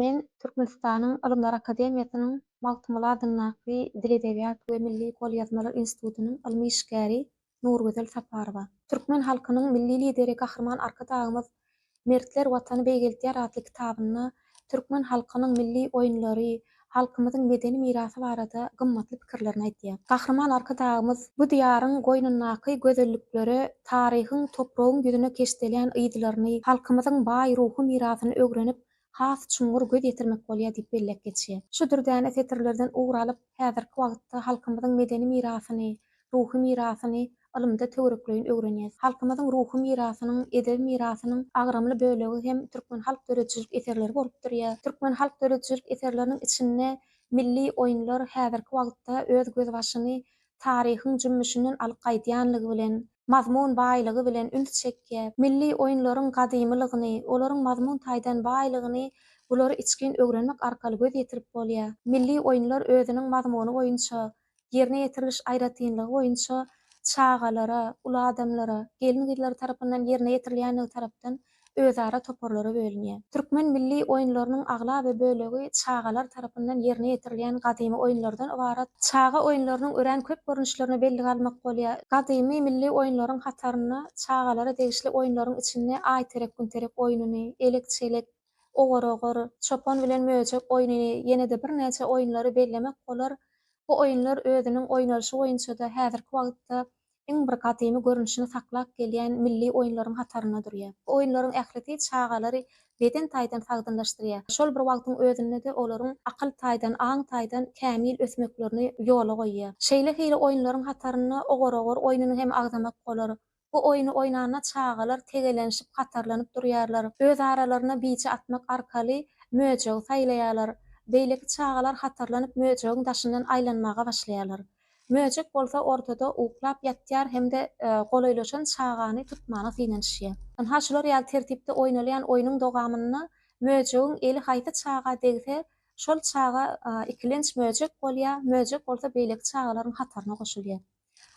Men Türkmenistanyň Ylymlar akademiýasynyň Magtymguly adyndaky Dil-edebiýat we milli golýazmalar institutynyň ylmy işgäri Nurgözel Saparowa. Türkmen halkynyň Milli Lideri Gahryman Arkadagymyz Mertler Watany beýgeltýär atly kitabynda türkmen halkynyň milli oýunlary, halkymyzyň medeni mirasy barada gymmatly pikirlerini aýdýar. Gahryman Arkadagymyz bu Diýaryň goýnundaky gözelliklere taryhyň topragyň ýüzüne keşdelýän yzlaryny, halkymyzyň baý ruhy mirasyny öwrenip, has çuňňur göz ýetirmek bolýar diýip belläp geçýär. Şu dürdäne setirlerden ugur alyp, häzirki wagtda halkymyzyň medeni mirasyny, ruhy mirasyny ylymda töwerekleýin öwrenýäs. Halkymyzyň ruhy mirasynyň, edebi mirasynyň agramly bölegi hem türkmen halk döredijilik eserleri bolup durýar. Türkmen halk döredijilik eserleriniň içinde milli oýunlar häzirki wagtda öz gözbaşyny taryhyň jümmüşinden alyp gaýdýanlygy bilen, mazmun baýlygy bilen üns çekýär. Milli oýunlaryň gadymylygyny, olaryň mazmun taýdan baýlygyny bulary içgin öwrenmek arkaly göz ýetirip bolýar. Milli oýunlar özüniň mazmuny boýunça, ýerine ýetiriliş aýratynlygy boýunça çagalara, uly adamlara, gelin-gyzlara tarapyndan ýerine ýetirilýänligi tarapdan özara toparlara bölünýär. Türkmen milli oýunlarynyň aglaba bölegi çagalar tarapyndan ýerine ýetirilýän gadymy oýunlardan ybarat. Çaga oýunlarynyň örän köp görnüşlerine bellige almak bolýar. Gadymy milli oýunlaryň hatarynda çagalara degişli oýunlaryň içinde aýterek-günterek oýnuny, elek-çelek, ogur-ogur, çopan bilen möjek oýnuny, ýene-de birnäçe oýunlary bellemek bolar. Bu oýunlar özüniň oýnalyşy boýunça-da häzirki wagtda iň bir gadymy görnüşini saklap gelýän milli oýunlaryň hatarynda durýar. Bu oýunlaryň ählisi çagalary beden taýdan sagdynlaşdyrýar, şol bir wagtyň özünde-de olaryň akyl taýdan, aň taýdan kämil ösmeklerini ýola goýýar. Şeýle hili oýunlaryň hatarynda ogur-ogur oýnuny hem agzamak bolar. Bu oýny oýnanda çagalar tegelenişip hatarlanyp durýarlar, öz aralaryna bije atmak arkaly möjegi saýlaýarlar. Beýleki çagalar hatarlanyp möjegiň daşyndan aýlanmaga başlaýarlar. Möjek bolsa ortada uklap ýatýar hem-de golaýlaşan çagany tutmana synanyşýar. Ynha şular ýaly tertipde oýnalýan oýnuň dogamynda möjegiň eli haýsy çaga degse, şol çaga ikilenç möjek bolýar, möjek bolsa beýleki çagalaryň hataryna goşulýar.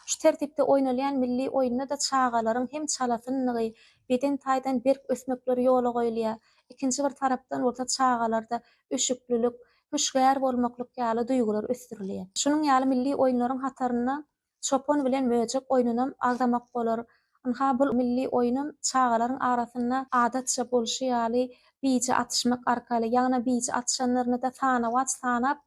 Şu tertipde oýnalýan milli oýunda-da çagalaryň hem çalasynlygy, beden taýdan berk ösmekleri ýola goýulýar, ikinji bir tarapdan bolsa çagalarda üşüklilik, hüşgär bolmaklyk ýaly duýgular ösdürilýär. Şunuň ýaly milli oýunlaryň hatarynda çopan bilen möjek oýnunam agzamak bolar. Ynha, bul milli oýunam çagalaryň arasynda adatça bolşy ýaly bije atyşmak arkaly, ýagny bije atyşanlaryny-da sanawaç sanap,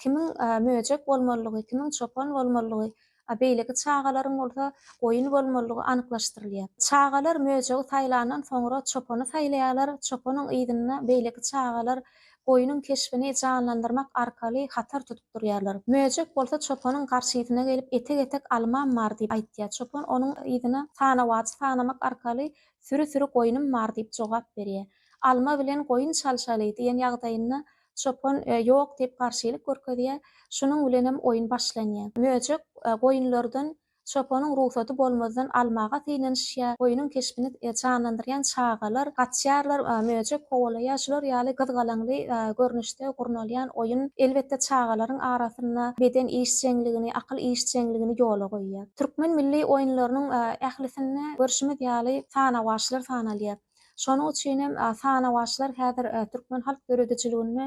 kimiň möjek bolmalydygy, kimiň çopan bolmalydygy a beýleki çagalaryň bolsa goýun bolmalydygy anyklaşdyrylýar. Çagalar möjegi saýlandan soňra çopany saýlaýarlar, çopanyň yzynda beýleki çagalar goýnuň keşbini janlandyrmak arkaly hatar tutup durýarlar. Möjek bolsa çopanyň garşysyna gelip etek-etek almam bar diýip aýtýar. Çopan onuň yzyna sanawajy sanamak arkaly süri-süri goýnum bar diýip jogap berýär. Alma bilen goýun çalşaly diýen ýagdaýynda Çopan ýok diýip garşylyk görkezýär. Şunuň bilenem oýun başlanýar. Möjek goýunlardan çopanyň rugsady bolmazdan almaga synanyşýar. Goýnuň keşbini janlandyrýan çagalar gaçýarlar. Möjek kowalaýar. Şular ýaly gyzgalaňly görnüşde gurnalýan oýun, elbetde, çagalaryň arasynda beden işjeňligini, akyl işjeňligini ýola goýýar. Türkmen milli oýunlarynyň ählisinde görşümiz ýaly sanawaçlar sanalýar. Şonuň üçin hem sanawaçlar häzir türkmen halk döredijiliginde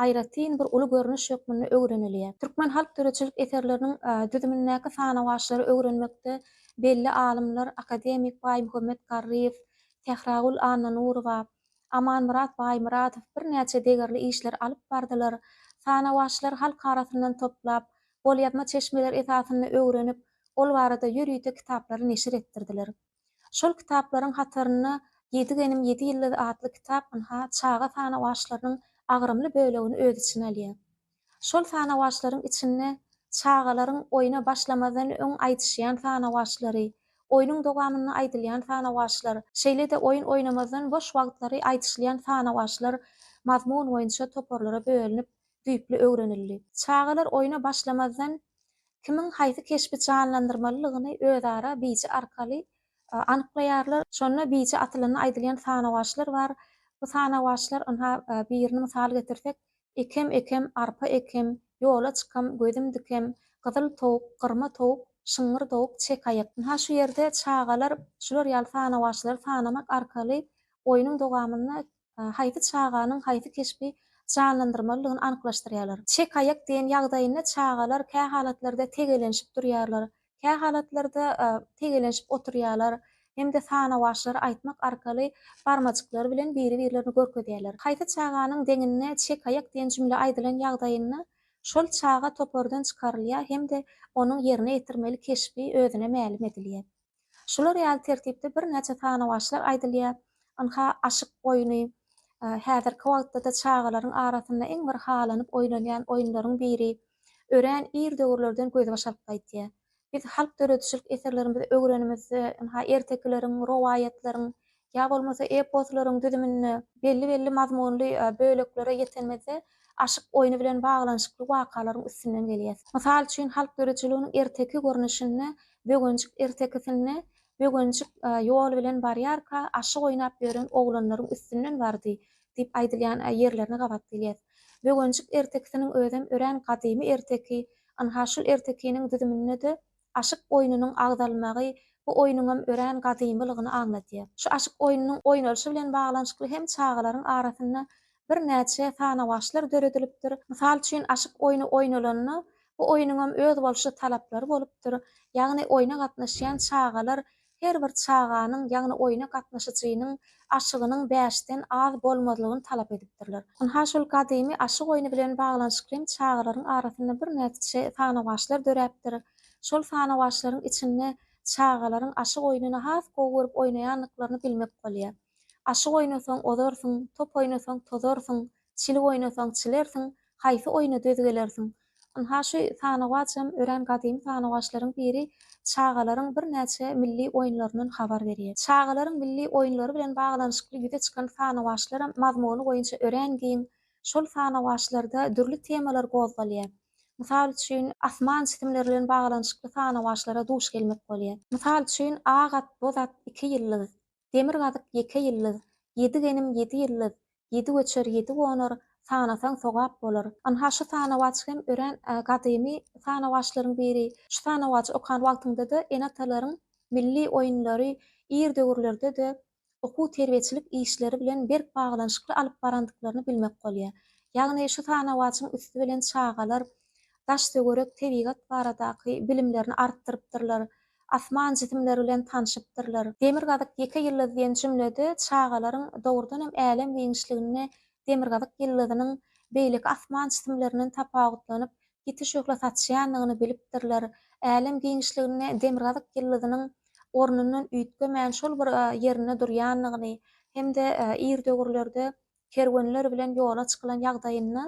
aýratyn bir uly görnüş hökmünde öwrenilýär. Türkmen halk döredijilik eserleriniň düzümindäki sanawaçlary öwrenmekde belli alymlar, akademik Baýmuhammet Garryýew, Sähragül Annanurowa, Amanmyrat Baýmyradow birnäçe degerli işleri alyp bardylar. Sanawaçlar halk arasyndan toplap, golýazma çeşmeler esasynda öwrenip, ol barada ýörite kitaplary neşir etdirdiler. Şol kitaplaryň hatarynda Ýedi genim, ýedi ýyldyz atly kitap ynha, çaga sanawaçlarynyň agramly bölegini öz içine alýar. Şol sanawaçlaryň içinde çagalaryň oýna başlamazdan öň aýdyşýan sanawaçlary, oýnuň dowamynda aýdylýan sanawaçlar, şeýle-de oýun oýnamazdan boş wagtlary aýdyşylýan sanawaçlar mazmun boýunça toparlara bölünip, düýpli öwrenildi. Çagalar oýna başlamazdan kimiň haýsy keşbi janlandyrmalydygyny özara biji arkaly anyklaýarlar. Şonda biji atylanda aýdylýan sanawaçlar bar. Bu sanawaçlar, ynha, birini mysal getirsek, Ekem, ekem, arpa ekem, Ýola çykam, gözüm dikem, Gyzyl towuk, gyrma towuk, Şyňňyr dowuk, çek aýak. Ynha, şu ýerde çagalar şular ýaly sanawaçlary sanamak arkaly oýnuň dowamynda Haýsy çaganyň haýsy keşbi janlandyrmalydygyny anyklaşdyrýarlar. Çekaýak diýen ýagdaýynda çagalar kä halatlarda tegelenşip durýarlar, kä halatlarda tegelenşip oturýarlar hem-de sanawaçlary aýtmak arkaly barmajyklary bilen biri-birlerini görkezýärler. Haýsy çaganyň deňinde çekaýak diýen jümle aýdylan ýagdaýynda şol çaga topardan çykarylýar hem-de onuň ýerine ýetirmeli keşbi özüne mälim edilýär. Şular ýaly tertipde birnäçe sanawaçlar aýdylýar. Ynha, aşyk oýny. Häzirki wagtda-da çagalaryň arasynda iň bir halanyp oýnalýan oýunlaryň biri. Örän ir döwürlerden gözbaş alyp gaýtýar. Biz halk döredijilik eserlerimizi öwrenimizde, ynha, ertekileriň, rowaýatlaryň, ýa bolmasa eposlaryň düzüminde belli-belli mazmunly böleklere ýetenimizde aşyk oýny bilen baglanyşykly wakalaryň üstünden gelýäs. Mysal üçin, halk ýörüjiliginiň erteki görnüşinde Böwenjik ertekisinde Böwenjik ýol bilen barýarka aşyk oýnap ýören oglanlaryň üstünden bardy diýip aýdylýan ýerlerine gabat gelýäs. Böwenjik ertekisiniň özem örän gadymy erteki, ynha şul ertekiniň düzüminde-de Aşyk oýnunyň agzalmagy bu oýnuňam örän gadymylygyny aňladýar. Şu aşyk oýnunyň oýnalyşy bilen baglanyşykly hem çagalaryň arasynda birnäçe sanawaçlar döredilipdir. Mysal üçin, aşyk oýny oýnalanda, bu oýnuňam özboluşly talaplary bolupdyr, ýagny oýna gatnaşýan çagalar her bir çaganyň, ýagny oýna gatnaşyjynyň aşygynyň bäşden az bolmazlygyny talap edipdirler. Ynha şol gadymy aşyk oýny bilen baglanyşykly hem çagalaryň arasynda birnäçe sanawaçlar döräpdir. Şol sanawaçlaryň içinde çagalaryň aşyk oýnuny has gowy görüp oýnaýandyklaryny bilmek bolýar. Aşyk oýnasaň ozarsyň, top oýnasaň tozarsyň. Çil oýnasaň çilersiň, haýsy oýna döz gelersiň? Ynha, şu sanawaçam örän gadymy sanawaçlaryň biri çagalaryň birnäçe milli oýunlaryndan habar berýär. Çagalaryň milli oýunlary bilen baglanyşykly ýüze çykan sanawaçlaram mazmuny boýunça örän giň. Şol sanawaçlarda dürli temalar gozgalýar. Mysal üçin, asman jisimleri bilen baglanyşykly sanawaçlara duş gelmek bolýar. Mysal üçin, Ak at, boz at, iki ýyldyz. Demirgazyk ýeke ýyldyz, Ýedi genim ýedi ýyldyz, Ýedi göçer ýedi gonar, Sanasaň sogap bolar. Ynha şu sanawaç hem örän gadymy sanawaçlaryň biri. Şu sanawajy okan wagtyňda-da ene-atalaryň milli oýunlary ir döwürlerde-de okuw-terbiýeçilik işleri bilen berk baglanyşykly alyp barandyklaryny bilmek bolýar. Ýagny şu sanawaçyň üsti bilen çagalar daş-töwerek, tebigat baradaky bilimlerini artdyrypdyrlar, asman jisimleri bilen tanşypdyrlar. Demirgazyk ýeke ýyldyz diýen jümlede çagalaryň dogrudan hem älem giňişliginde demirgazyk ýyldyzynyň beýleki asman jisimlerinden tapawutlanyp, ýiti şöhle saçýandygyny bilipdirler. Älem giňişliginde demirgazyk ýyldyzynyň ornundan üýtgemän şol bir ýerinde durýandygyny hem-de ir döwürlerde kerwenler bilen ýola çykylan ýagdaýynda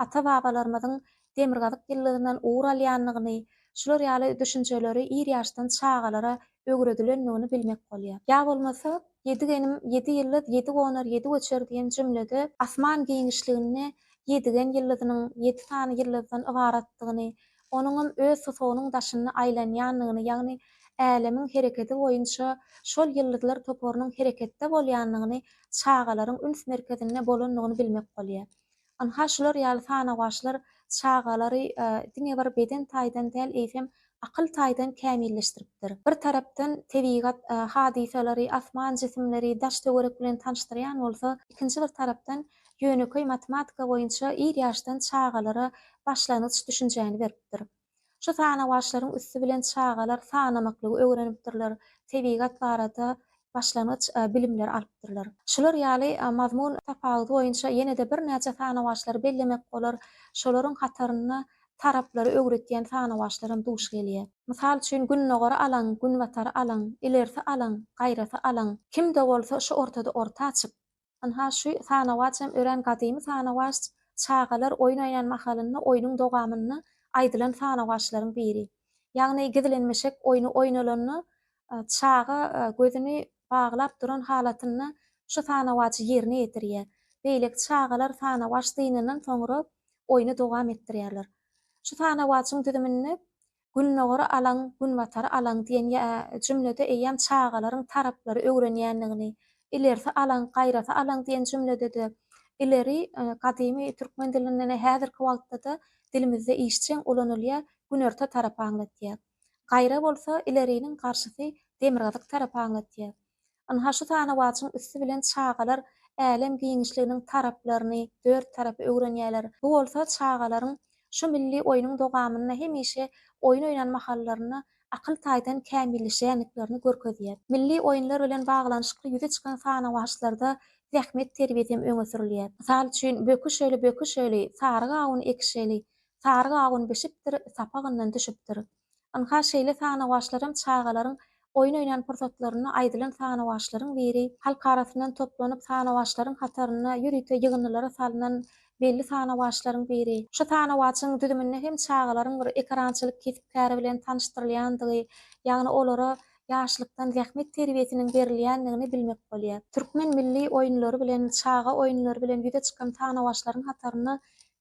ata-babalarymyzyň demirgazyk ýyllygyndan ugur alýandygyny, şular ýaly düşünjeleri ir ýaşdan çagalara öwredilendigini bilmek bolýar. Ýa bolmasa, Ýedi genim, ýedi ýyldyz, ýedi gonar, ýedi göçer diýen jümlede asman giňişliginde ýedigen ýyldyzynyň ýedi sany ýyldyzdan ybaratdygyny, onuňam öz tusagynyň daşynda aýlanýandygyny, ýagny Älemiň hereketi boýunça şol ýyldyzlar toparynyň hereketde bolýandygyny, çagalaryň üns merkezinde bolandygyny bilmek bolýar. Ynha, şular ýaly sanawaçlar çagalary diňe bir beden taýdan däl, eýsem, akyl taýdan kämilleşdiripdir. Bir tarapdan tebigat hadysalary, asman jisimleri, daş-töwerek bilen tanyşdyrýan bolsa, ikinji bir tarapdan ýönekeý matematika boýunça ir ýaşdan çagalara başlangyç düşünjäni beripdir. Şu sanawaçlaryň üsti bilen çagalar sanamaklygy öwrenipdirler, tebigat barada başlangyç bilimleri alypdyrlar. Şular ýaly mazmun tapawudy boýunça ýene-de birnäçe sanawaçlary bellemek bolar, şolaryň hatarynda taraplary öwretýän sanawaçlar hem duş gelýär. Mysal üçin, Gündogary alaň, Günbatary alaň, Ilerisi alaň, Gaýrasy alaň, Kim-de bolsa şu ortada orta açyp, Ynha, şu sanawaç hem örän gadymy sanawaç, çagalar oýun oýnan mahalynda oýnuň dogamynda aýdylan sanawaçlaryň biri. Ýagny gizlenmişek oýny oýnalanda, çaga gözüni baglap duran halatynda şu sanawaçy ýerine ýetirýär. Beýleki çagalar sanawaç dynandan soňra oýny dowam etdirýärler. Şu sanawaçyň düzüminde Gündogary alaň, Günbatary alaň diýen ýa jümlede eýýäm çagalaryň taraplary öwrenýändigini, ilerisi alaň, gaýrasy alaň diýen jümlede-de ileri gadymy türkmen dilinde-de häzirki wagtda-da dilimizde işjeň ulanylýar, günorta tarapy aňlatýar. Gaýra bolsa ileriniň garşysy demirgazyk tarapy aňlatýar. Ynha şu sanawaçyň üsti bilen çagalar älem giňişliginiň taraplaryny, dört tarapy öwrenýärler. Bu bolsa çagalaryň şu milli oýnuň dogamynda hemişe oýun oýnan mahallarynda akyl taýdan kämilleşýändiklerini görkezýär. Milli oýunlar bilen baglanyşykly ýüze çykan sanawaçlarda zähmet terbiýesi hem öňe sürülýär. Mysal üçin, Böküşeli, böküşeli, sary gawun ekişeli, sary gawun bişipdir, sapagyndan düşüpdir. Ynha, şeýle sanawaçlaram çagalaryň oýun oýnan pursatlarynda aýdylan sanawaçlaryň biri. Halk arasyndan toplanyp sanawaçlaryň hatarynda ýörite ýygyndylara salnan belli sanawaçlaryň biri. Şu sanawaçyň düzüminde hem çagalaryň bir ekerançylyk kesp-käri bilen tanyşdyrylýandygy, ýagny olara ýaşlykdan zähmet terbiýesiniň berilýändigini bilmek bolýar. Türkmen milli oýunlary bilen, çaga oýunlary bilen ýüze çykan sanawaçlaryň hatarynda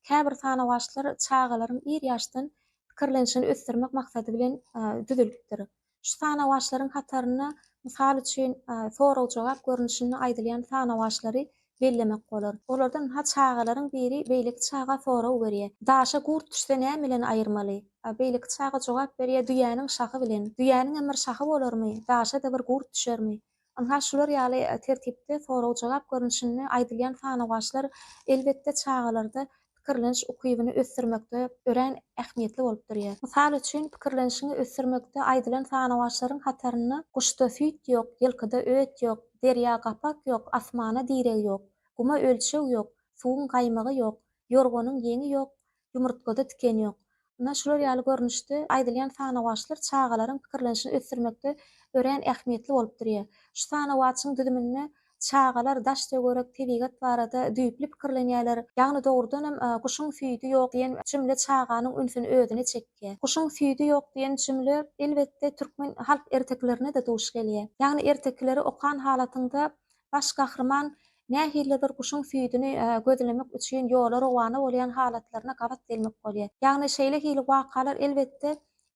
käbir sanawaçlar çagalaryň ir ýaşdan pikirlenişini ösdürmek maksady bilen düzülipdir. Şu sanawaçlaryň hatarynda, mysal üçin, sorag-jogap görnüşinde aýdylýan sanawaçlary bellemek bolar. Olardan ha çagalaryň biri beýleki çaga sorag berýär, Daşa gurt düşse näme bilen aýyrmaly? A beýleki çaga jogap berýär, Düýäniň şahy bilen. Düýäniňem bir şahy bolarmy? Daşa-da bir gurt düşermi? Ynha, şular ýaly tertipde sorag-jogap görnüşinde aýdylýan sanawaçlar, elbetde, çagalarda pikirleniş ukybyny ösdürmekde örän ähmiýetli bolup durýar. Mysal üçin, pikirlenişiňi ösdürmekde aýdylan sanawaçlaryň hatarynda Guşda süýt ýok, ýylkyda öt ýok, Derýa gapak ýok, asmana direg ýok, Guma ölçeg ýok, suwuň gaýmagy ýok, Ýorganyň ýeňi ýok, ýumurtgada tiken ýok. Ynha, şular ýaly görnüşde aýdylýan sanawaçlar çagalaryň pikirlenişini ösdürmekde örän ähmiýetli bolup durýar. Şu sanawaçyň düzüminde çagalar daş-töwerek, tebigat barada düýpli pikirlenýärler. Ýagny dogrudanam Guşuň süýdi ýok diýen jümle çaganyň ünsüni özüne çekýär. Guşuň süýdi ýok diýen jümle, elbetde, türkmen halk ertekilerine-de duş gelýär. Ýagny ertekileri okan halatyňda Baş gahryman nähilidir guşuň süýdüni gözlemek üçin ýola rowana bolýan halatlaryna gabat gelmek bolýar. Ýagny şeýle hili wakalar elbetde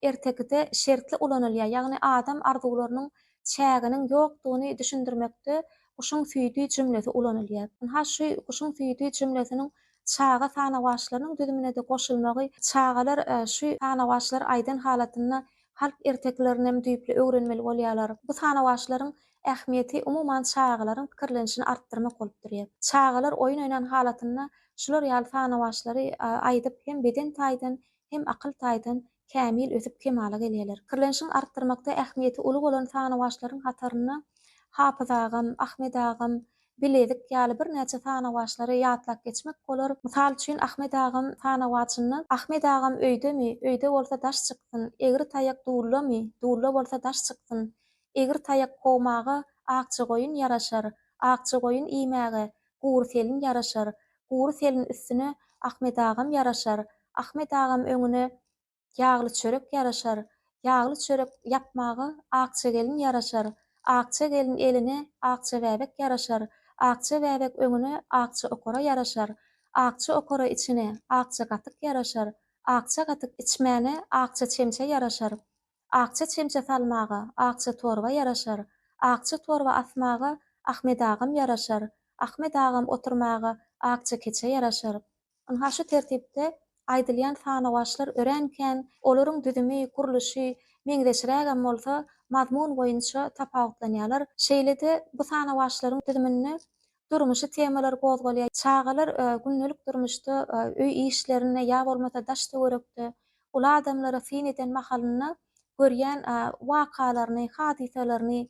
ertekide şertli ulanylýar, ýagny adam arzuwlarynyň çäginiň ýokdugyny düşündirmekde guşuň süýdi jümlesi ulanylýar. Ynha şu guşuň süýdi jümlesiniň çaga sanawaçlarynyň düzümine-de goşulmagy çagalar şu sanawaçlary aýdan halatynda halk ertekilerinem düýpli öwrenmeli bolýarlar. Bu sanawaçlaryň ähmiýeti umuman çagalaryň pikirlenişini artdyrmak bolup durýar. Çagalar oýun oýnan halatynda şular ýaly sanawaçlary aýdyp hem beden taýdan, hem akyl taýdan kämil ösüp kemala gelýärler. Pikirlenişiň artdyrmakda ähmiýeti uly bolan sanawaçlaryň hatarynda Hapyz agam, Ahmet agam, bilezik ýaly birnäçe sanawaçlary ýatlap geçmek bolar. Mysal üçin, Ahmet agam sanawaçynda Ahmet agam öýdemi, öýde bolsa daş çyksyn, egri taýak dullamy, dulla bolsa daş çyksyn, egri taýak kowmaga akja goýun ýaraşar, akja goýun iýmäge gury selin ýaraşar, gury selin üstüne Ahmet agam ýaraşar, Ahmet agam öňüne ýagly çörek ýaraşar, ýagly çörek ýapmaga akja gelin ýaraşar, akja gelin eline akja bäbek ýaraşar, akja bäbek öňüne akja okara ýaraşar, akja okara içine akja gatyk ýaraşar, akja gatyk içmäne akja çemçe ýaraşar, akja çemçe salmaga akja torba ýaraşar, akja torba asmaga Ahmet agam ýaraşar, Ahmet agam oturmaga akja keçe ýaraşar, Ynha şu tertipde aýdylýan sanawaçlar örän kän, olaryň düzümi, gurluşy meňzeşrägem bolsa, mazmun boýunça tapawutlanýarlar. Şeýle-de, bu sanawaçlaryň düzüminde durmuşy temalar gozgalýar. Çagalar gündelik durmuşda öý işlerinde ýa bolmasa daş-töwerekde uly adamlara syn eden mahalynda görýän wakalaryny, hadysalaryny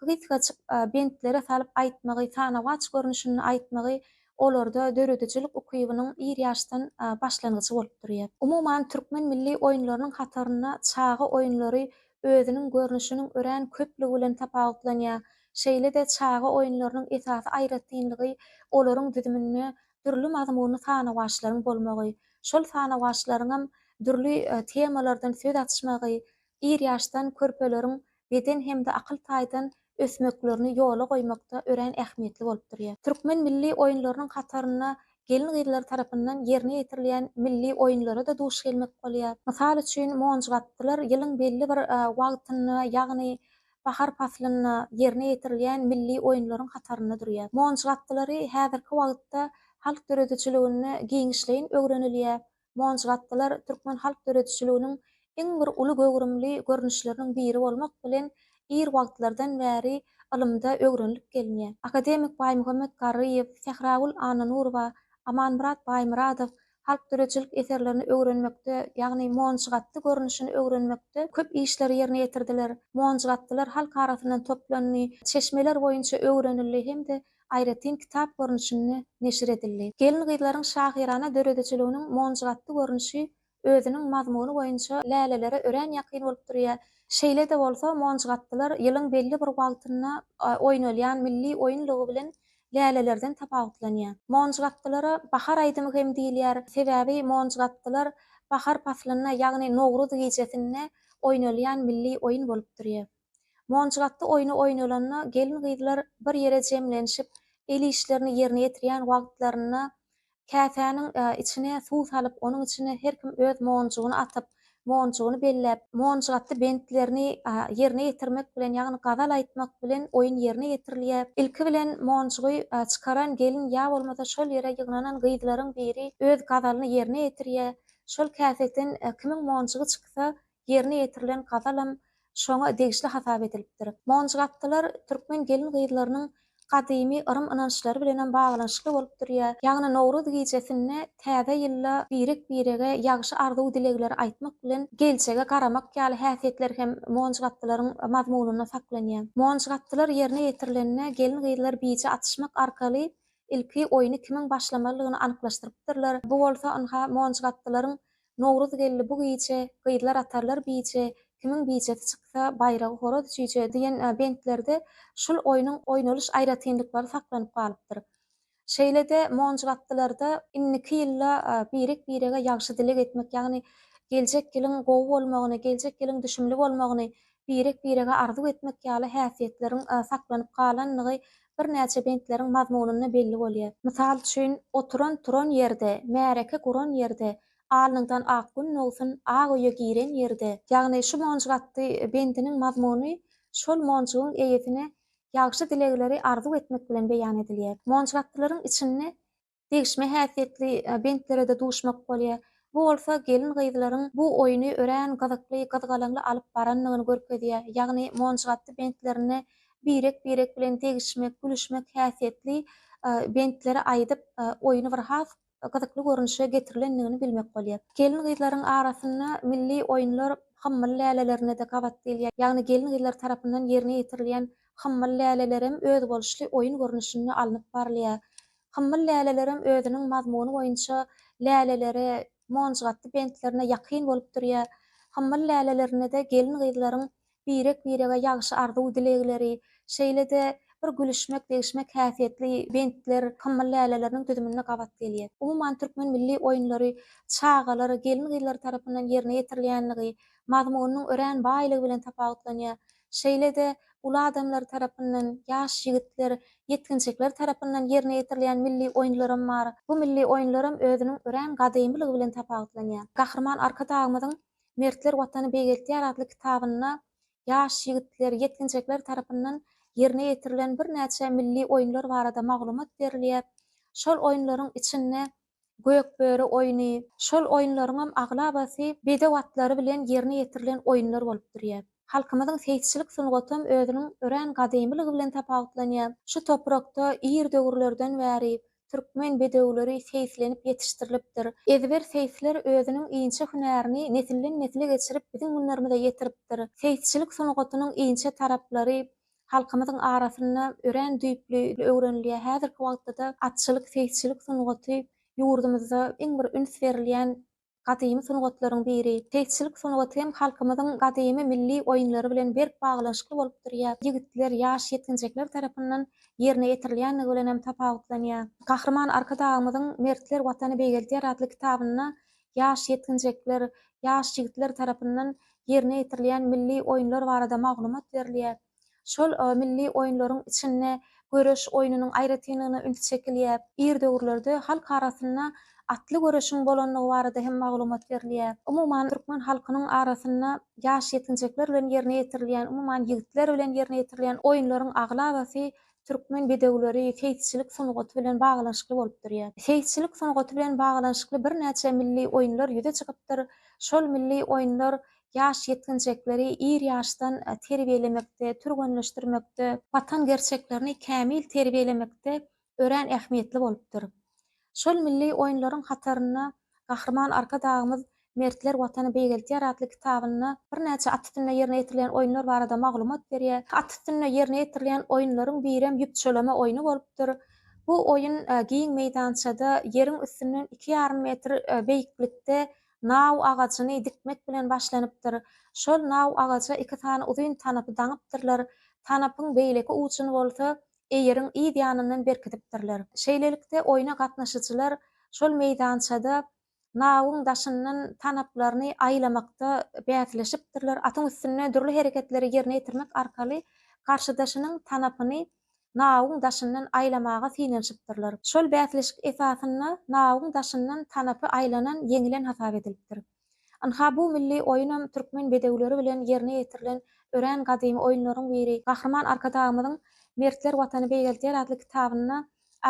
gysgajyk bentlere salyp aýtmagy, sanawaç görnüşinde aýtmagy olarda döredijilik ukybynyň ir ýaşdan başlangyjy bolup durýar. Umuman, türkmen milli oýunlarynyň hatarynda çaga oýunlary özüniň görnüşiniň örän köplügi bilen tapawutlanýar. Şeýle-de çaga oýunlarynyň esasy aýratynlygy olaryň düzüminde dürli mazmunly sanawaçlaryň bolmagy, şol sanawaçlaryňam dürli temalardan söz açmagy, ir ýaşdan körpeleriň beden hem-de akyl taýdan ösmeklerini ýola goýmakda örän ähmiýetli bolup durýar. Türkmen milli oýunlarynyň hatarynda gelin-gyzlar tarapyndan ýerine ýetirilýän milli oýunlara-da duş gelmek bolýar. Mysal üçin, monjybatdylar ýylyň belli bir wagtynda, ýagny Bahar paslynda ýerine ýetirilýän milli oýunlaryň hatarynda durýar. Monjuk atdylary häzirki wagtda halk döredijiliginde giňişleýin öwrenilýär. Monjuk atdylar türkmen halk döredijiliginiň iň bir uly göwrümli görnüşleriniň biri bolmak bilen, ir wagtlardan bäri ylymda öwrenilip gelinýär. Akademik Baýmuhammet Garryýew, Sähragül Annanurowa, Amanmyrat Baýmyradow halk döredijilik eserlerini öwrenmekde, ýagny monjgatdy görnüşini öwrenmekde köp işleri ýerine ýetirdiler. Monjgatdylar halk arasyndan toplandy, çeşmeler boýunça öwrenildi hem-de aýratyn kitap görnüşinde neşir edildi. Gelin-gyzlaryň şahyrana döredijiliginiň monjgatdy görnüşi özüniň mazmuny boýunça lälelere örän ýakyn bolup durýar. Şeýle-de bolsa, monjgatdylar ýylyň belli bir wagtynda oýnalýan milli oýun lugy bilen lälelerden tapawutlanýar. Monjgapdylara bahar aýdymy hem diýilýär, sebäbi monjgapdylar bahar paslynda, ýagny Nowruz gijesinde oýnalýan milli oýun bolup durýar. Monjgapdy oýny oýnalanda gelin-gyzlar bir ýere jemlenişip, el işlerini ýerine ýetirýän wagtlarynda Käsäniň içine suw salyp, onuň içine her kim öz monjugyny atyp, monjugyny belläp, monjuk atdy bentlerini ýerine ýetirmek bilen, ýagny gazal aýtmak bilen oýun ýerine ýetirilýä. Ilki bilen monjugy çykaran gelin ýa bolmasa şol ýere ýygnanan gyzlaryň biri öz gazalyny ýerine ýetirýä. Şol käseden kimiň monjugy çyksa, ýerine ýetirilen gazalam şoňa degişli hasap edilipdir. Monjygapdylar türkmen gelin-gyzlarynyň gadymy yrym-ynançlary bilenem baglanyşykly bolup durýar. Ýagny Nowruz gijesinde täze ýylda birek-birege ýagşy arzuw-dilegleri aýtmak bilen, geljege garamak ýaly häsiýetler hem monjygapdylaryň mazmunynda saklanýar. Monjygapdylar ýerine ýetirilende gelin-gyzlar bije atyşmak arkaly ilki oýny kimiň başlamalydygyny anyklaşdyrypdyrlar. Bu bolsa ynha monjygapdylaryň Nowruz geldi bu gije, Gyzlar atarlar bije, Kimiň bijesi çyksa, Baýragy horaz çüýje diýen bentlerde şul oýnuň oýnalyş aýratynlyklary saklanyp galypdyr. Şeýle-de monjuk atlylarda indiki ýylda birek-birege ýagşy dileg etmek, ýagny geljek ýylyň gowy bolmagyny, geljek ýylyň düşümli bolmagyny, birek-birege arzuw etmek ýaly häsiýetleriň saklanyp galandygy birnäçe bentleriň mazmunynda belli bolýar. Mysal üçin, Oturan-turan ýerde, märeke guran ýerde, Alnyňdan ak gün dogsun, Ak öýe giren ýerde. Ýagny şu monjuk atly bendiniň mazmuny şol monjugyň eýesine ýagşy dilegleri arzuw etmek bilen beýan edilýär. Monjuk atlylaryň içinde degişme häsiýetli bentlere-de duşmak bolýar. Bu bolsa gelin-gyzlaryň bu oýny örän gyzykly, gyzgalaňly alyp barandygyny görkezýär. Ýagny monjgatdy bentlerinde birek-birek bilen degişmek, gülüşmek häsiýetli bentleri aýdyp, oýny bir has gyzykly görnüşe getirilendigini bilmek bolýar. Gelin-gyzlaryň arasynda milli oýunlar hymmal lälelerine-de gabat gelýär. Ýagny gelin-gyzlar tarapyndan ýerine ýetirilýän hymmal lälelerem özboluşly oýun görnüşinde alnyp barylýar. Hymmyl lälelerem özüniň mazmuny boýunça läleleri monjgatdy bentlerine ýakyn bolup durýar. Hymmyl lälelerinde-de gelin-gyzlaryň birek-birege ýagşy arzuw-dilegleri, şeýle-de bir gülüşmek-degişmek häsiýetli bentler hymmyl läleleriniň düzüminde gabat gelýär. Umuman, türkmen milli oýunlary çagalar, gelin-gyzlar tarapyndan ýerine ýetirilýänligi, mazmunynyň örän baýlygy bilen tapawutlanýar. şeýle-de uly adamlar tarapyndan, ýaş ýigitler, ýetginjekler tarapyndan ýerine ýetirilýän milli oýunlaram bar. Bu milli oýunlaram özüniň örän gadymylygy bilen tapawutlanýar. Gahryman Arkadagymyzyň Mertler Watany beýgeltýär atly kitabynda ýaş ýigitler, ýetginjekler tarapyndan ýerine ýetirilen birnäçe milli oýunlar barada maglumat berilýär. Şol oýunlaryň içinde Gökböri oýny, şol oýunlaryňam aglabasy bedew atlary bilen ýerine ýetirilen oýunlar bolup durýar. Halkymyzyň seýisçilik sungatam özüniň örän gadymylygy bilen tapawutlanýar. Şu toprakda ir döwürlerden bäri türkmen bedewleri seýislenip ýetişdirilipdir. Ezber seýisler özüniň inçe hünärini nesilden-nesile geçirip biziň günlerimize ýetiripdir. Seýisçilik sungatynyň inçe taraplary Halkymyzyň arasynda örän düýpli öwrenilýär. Häzirki wagtda-da atçylyk, seýisçilik sungaty ýurdumyzda iň bir üns berilýän gadymy sungatlaryň biri. Seýisçilik sungaty hem halkymyzyň gadymy milli oýunlary bilen berk baglanyşykly bolup durýar. Ýigitler, ýaş ýetginjekler tarapyndan ýerine ýetirilýändigi bilen hem tapawutlanýar. Gahryman Arkadagymyzyň Mertler Watany beýgeldýär atly kitabynda ýaş ýetginjekler, ýaş ýigitler tarapyndan ýerine ýetirilýän milli oýunlar barada maglumat berilýär. Şol milli oýunlaryň içinde göreş oýnunyň aýratynlygyna üns çekilýär. Ir döwürlerde halk arasynda atly göreşiň bolandygy barada hem maglumat berilýär. Umuman, türkmen halkynyň arasynda ýaş ýetginjekler bilen ýerine ýetirilýän, umuman, ýigitler bilen ýerine ýetirilýän oýunlaryň aglabasy Türkmen bedewleri seýisçilik sungaty bilen baglanyşykly bolup durýar. Seýisçilik sungaty bilen baglanyşykly birnäçe milli oýunlar ýüze çykypdyr. Şol milli oýunlar ýaş ýetginjekleri ir ýaşdan terbiýelemekde, türgenleşdirmekde, watan gerçeklerini kämil terbiýelemekde örän ähmiýetli bolupdyr. Şol milli oýunlaryň hatarynda Gahryman Arkadagymyz Mertler Watany beýgeltýär atly kitabynda birnäçe at üstünde ýerine ýetirilýän oýunlar barada maglumat berýär. At üstünde ýerine ýetirilýän oýunlaryň birem ýüpçüleme oýny bolupdyr. Bu oýun giň meýdançada ýeriň üstünden iki ýarym metr beýiklikde naw agajyny dikmek bilen başlanypdyr. Şol naw agaja iki sany uzyn tanapy daňypdyrlar. Tanapyň beýleki ujuny bolsa eýeriň yz ýanyndan berkidipdirler. Şeýlelikde, oýna gatnaşyjylar şol meýdançada nawuň daşyndan tanaplaryny aýlamakda bäsleşipdirler, atyň üstünde dürli hereketleri ýerine ýetirmek arkaly garşydaşynyň tanapyny nawuň daşyndan aýlamaga synanyşypdyrlar. Şol bäsleşik esasynda nawuň daşyndan tanapy aýlanan ýeňilen hasap edilipdir. Ynha, bu milli oýunam türkmen bedewleri bilen ýerine ýetirilen örän gadymy oýunlaryň biri. Gahryman Arkadagymyzyň Mertler Watany beýgeldýär atly kitabynda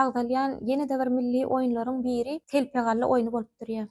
agzalýan ýene-de bir milli oýunlaryň biri telpegalla oýny bolup durýar.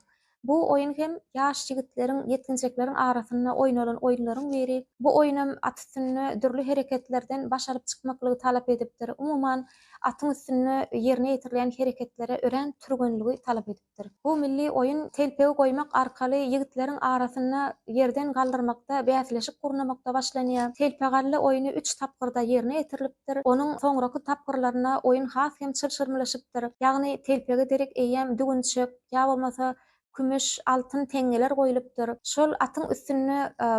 Bu oýun hem ýaş ýigitleriň, ýetginjekleriň arasynda oýnalan oýunlaryň biri. Bu oýunam at üstünde dürli hereketlerden baş alyp çykmaklygy talap edipdir. Umuman, atyň üstünde ýerine ýetirilýän hereketlere örän türgenligi talap edipdir. edilipdir. Bu milli oýun telpegi goýmak arkaly ýigitleriň arasynda ýerden galdyrmakda bäsleşik gurnamakda başlanýar. Telpegalla oýny üç tapgyrda ýerine ýetirilipdir. Onuň soňraky tapgyrlarynda oýun has hem çylşyrymlaşypdyr. Ýagny telpege derek eýýäm düwünçek, ýa bolmasa kümüş, altyn teňňeler goýlupdyr. Şol atyň üstünde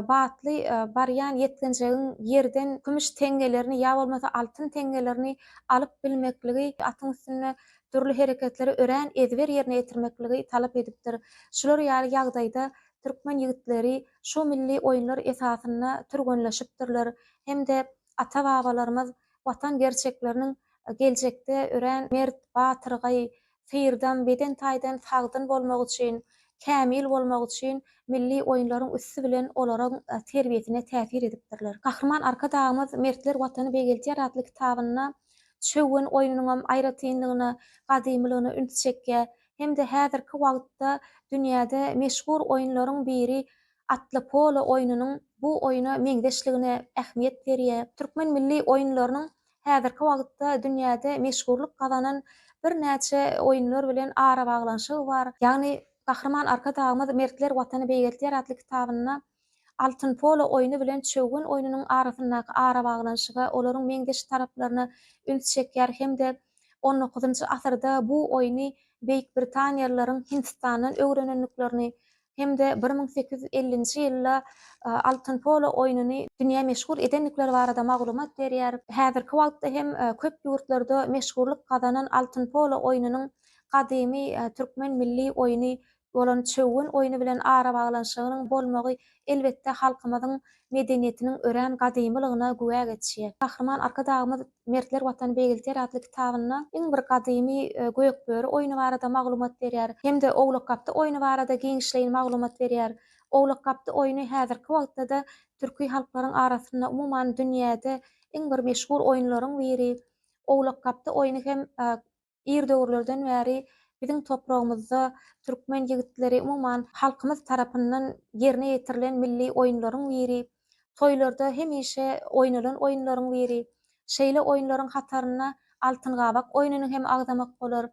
batly barýan ýetginjegiň ýerden kümüş teňňelerini ýa bolmasa altyn teňňelerini alyp bilmekligi atyň üstünde dürli hereketleri örän ezber ýerine ýetirmekligi talap edipdir. Şular ýaly ýagdaýda türkmen ýigitleri şu milli oýunlar esasynda türgenleşipdirler hem-de ata-babalarymyz Watan gerçekleriniň geljekde örän mert, batyrgaý, syrdam, beden taýdan sagdyn bolmagy üçin, kämil bolmagy üçin milli oýunlaryň üsti bilen olaryň terbiýesine täsir edipdirler. Gahryman Arkadagymyz Mertler Watany begeldýär atly kitabynda Çöwgen oýnunyňam aýratynlygyna, gadymylygyna üns çekýär hem-de häzirki wagtda dünýäde meşhur oýunlaryň biri atly polo oýnunyň bu oýna meňzeşligine ähmiýet berýär. Türkmen milli oýunlarynyň häzirki wagtda dünýäde meşhurlyk gazanan birnäçe oýunlar bilen arabaglanyşygy bar. Ýagny Gahryman Arkadagymyz Mertler Watany beýgeltýär atly kitabynda Altyn polo oýny bilen çöwgen oýnunyň arasyndaky arabaglanyşyga, olaryň meňzeş taraplaryna üns çekýär hem-de on dokuzynjy asyrda bu oýny beýikbritaniýalylaryň Hindistandan öwrenendiklerini hem-de bir müň sekiz ýüz ellinji ýylda altyn polo oýnuny dünýä meşhur edendikleri barada maglumat berýär. Häzirki wagtda hem köp ýurtlarda meşhurlyk gazanan altyn polo oýnunyň gadymy türkmen milli oýny bolan çöwün oýny bilen arabaglanyşygynyň bolmagy elbetde halkymyzyň medeniýetiniň örän gadymylygyna güwä geçýär. Gahryman Arkadagymyz Mertler Watany beýgelter atly kitabynda iň bir gadymy Gökböri oýny barada maglumat berýär hem-de Owlakgapdy oýny barada giňişleýin maglumat berýär. Owlakgapdy oýny häzirki wagtda-da türki halklaryň arasynda, umuman dünýäde iň bir meşhur oýunlaryň biri. Owlakgapdy oýny hem Ir döwürlerden bäri biziň topragymyzda türkmen ýigitleri, umuman, halkymyz tarapyndan ýerine ýetirilen milli oýunlaryň biri, toýlarda hemişe oýnalan oýunlaryň biri. Şeýle oýunlaryň hataryna Altyn gabak oýnuny hem agzamak bolar.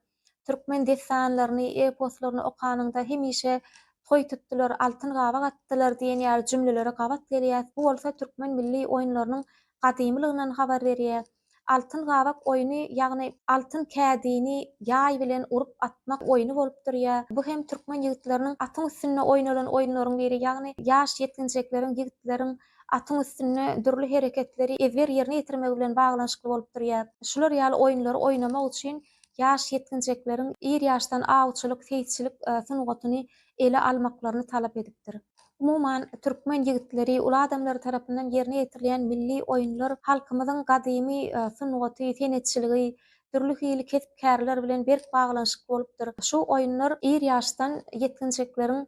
Türkmen dessanlaryny, eposlaryny okanyňda hemişe Toý tutdular, altyn gabak atdylar diýen ýaly jümlelere gabat gelýäs. Bu bolsa türkmen milli oýunlarynyň gadymylygyndan habar berýär. Altyn gabak oýny, ýagny altyn kädini ýaý bilen urup atmak oýny bolup durýar. Bu hem türkmen ýigitleriniň atyň üstünde oýnalan oýunlaryň biri, ýagny ýaş ýetginjekleriň, ýigitleriň atyň üstünde dürli hereketleri ezber ýerine ýetirmegi bilen baglanyşykly bolup durýar. Şular ýaly oýunlary oýnamak üçin ýaş ýetginjekleriň ir ýaşdan awçylyk, seýisçilik sungatyny ele almaklaryny talap edipdir. Umuman, türkmen ýigitleri, uly adamlary tarapyndan ýerine ýetirilýän milli oýunlar halkymyzyň gadymy sungaty, senetçiligi, dürli hili kesp-kärler bilen berk baglanyşykly bolupdyr. Şu oýunlar ir ýaşdan ýetginjekleriň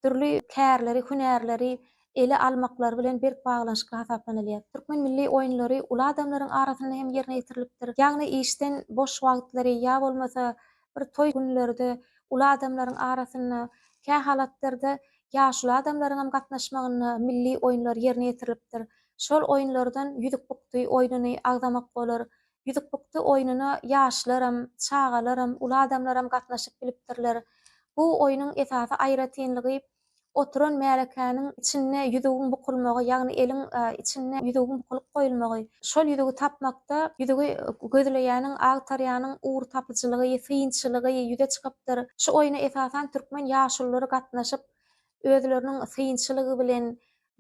dürli kärleri, hünärleri ele almaklary bilen berk baglanyşykly hasaplanylýar. Türkmen milli oýunlary uly adamlaryň arasynda hem ýerine ýetirilipdir. Ýagny işden boş wagtlary ýa bolmasa bir toý günlerde uly adamlaryň arasynda, kähalatlarda ýaşuly adamlaryň hem gatnaşmagynda milli oýunlar ýerine ýetirilipdir. Şol oýunlardan ýüzük bukdy oýnuny agzamak bolar, Ýüzükbukdy oýnuna ýaşlaram, çagalaram, uly adamlaram gatnaşyp bilipdirler. Bu oýnuň esasy aýratynlygy, oturan märekäniň içinde ýüzügiň bukulmagy, ýagny eliň içinde ýüzügiň bukulyp goýulmagy. Şol ýüzügi tapmakda ýüzügi gözleýäniň, agtarýanyň ugur tapyjylygy, synçylygy ýüze çykypdyr. Şu oýna esasan türkmen ýaşululary gatnaşyp, özleriniň synçylygy bilen,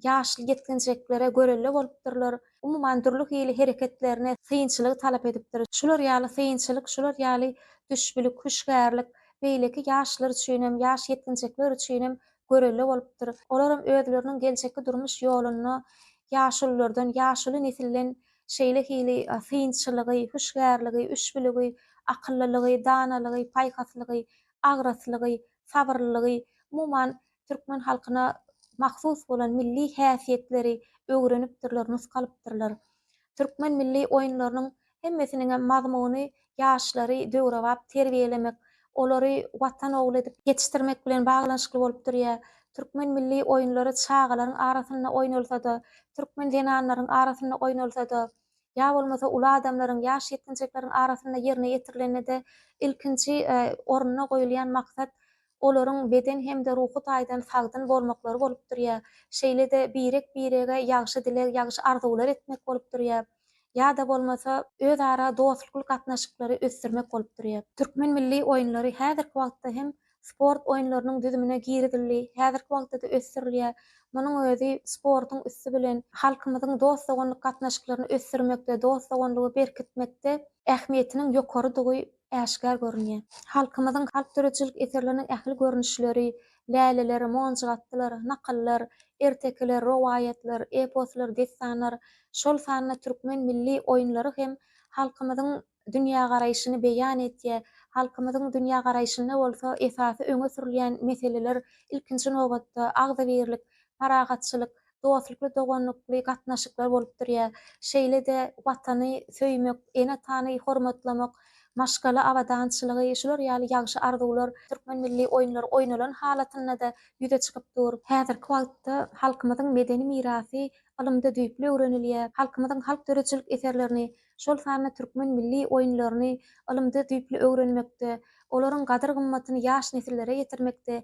ýaşly ýetginjeklere görelde bolupdyrlar, umuman dürli hili hereketlerine synçylygy talap edipdir. Şular ýaly synçylyk, şular ýaly düşbülik, hüşgärlik beýleki ýaşlar üçinem, ýaş ýetginjekler üçinem görelde bolupdyr. Olaram özleriniň geljekki durmuş ýolunda ýaşululardan, ýaşuly nesilden şeýle hili synçylygy, hüşgärligi, üşbüligi, akyllylygy, danalygy, paýhaslygy, agraslygy, sabyrlylygy, umuman türkmen halkyna mahsus bolan milli häsiýetleri öwrenipdirler, nusgalypdyrlar. Türkmen milli oýunlarynyň hemmesiniňem mazmuny ýaşlary döwrebap terbiýelemek, olary Watan ogly edip ýetişdirmek bilen baglanyşykly bolup durýar. Türkmen milli oýunlary çagalaryň arasynda oýnalsa-da, türkmen zenanlaryň arasynda oýnalsa-da, ýa bolmasa uly adamlaryň, ýaş ýetginjekleriň arasynda ýerine ýetirilende-de ilkinji orunda goýulýan maksat olaryň beden hem-de ruhy taýdan sagdyn bolmaklary bolup durýar. Şeýle-de birek-birege ýagşy dileg, ýagşy arzuwlar etmek bolup durýar. Ýa-da bolmasa, özara dostlukly gatnaşyklary ösdürmek bolup durýar. Türkmen milli oýunlary häzirki wagtda hem sport oýunlarynyň düzümine girizildi, häzirki wagtda-da ösdürilýär. Munuň özi sportuň üsti bilen halkymyzyň dost-doganlyk gatnaşyklaryny ösdürmekde, dost-doganlygy berkitmekde ähmiýetiniň ýokarydygy äşgär görünýär. Halkymyzyň halk döredijilik eserleriniň ähli görnüşleri, läleler, monjuk atlar, nakyllar, ertekiler, rowaýatlar, eposlar, dessanlar, şol sanda türkmen milli oýunlary hem halkymyzyň dünýägaraýşyny beýan etýär. Halkymyzyň dünýägaraýşynda bolsa esasy öňe sürülýän meseleler, ilkinji nobatda, agzybirlik, parahatçylyk, dostlukly, doganlykly gatnaşyklar bolup durýar. Şeýle-de Watany söýmek, ene-atany hormatlamak, maşgala abadançylygy, şular ýaly ýagşy arzuwlar türkmen milli oýunlary oýnalan halatynda-da ýüze çykyp dur. Häzirki wagtda halkymyzyň medeni mirasy ylymda düýpli öwrenilýär. Halkymyzyň halk döredijilik eserlerini, şol sanda türkmen milli oýunlaryny ylymda düýpli öwrenmekde, olaryň gadyr-gymmatyny ýaş nesillere ýetirmekde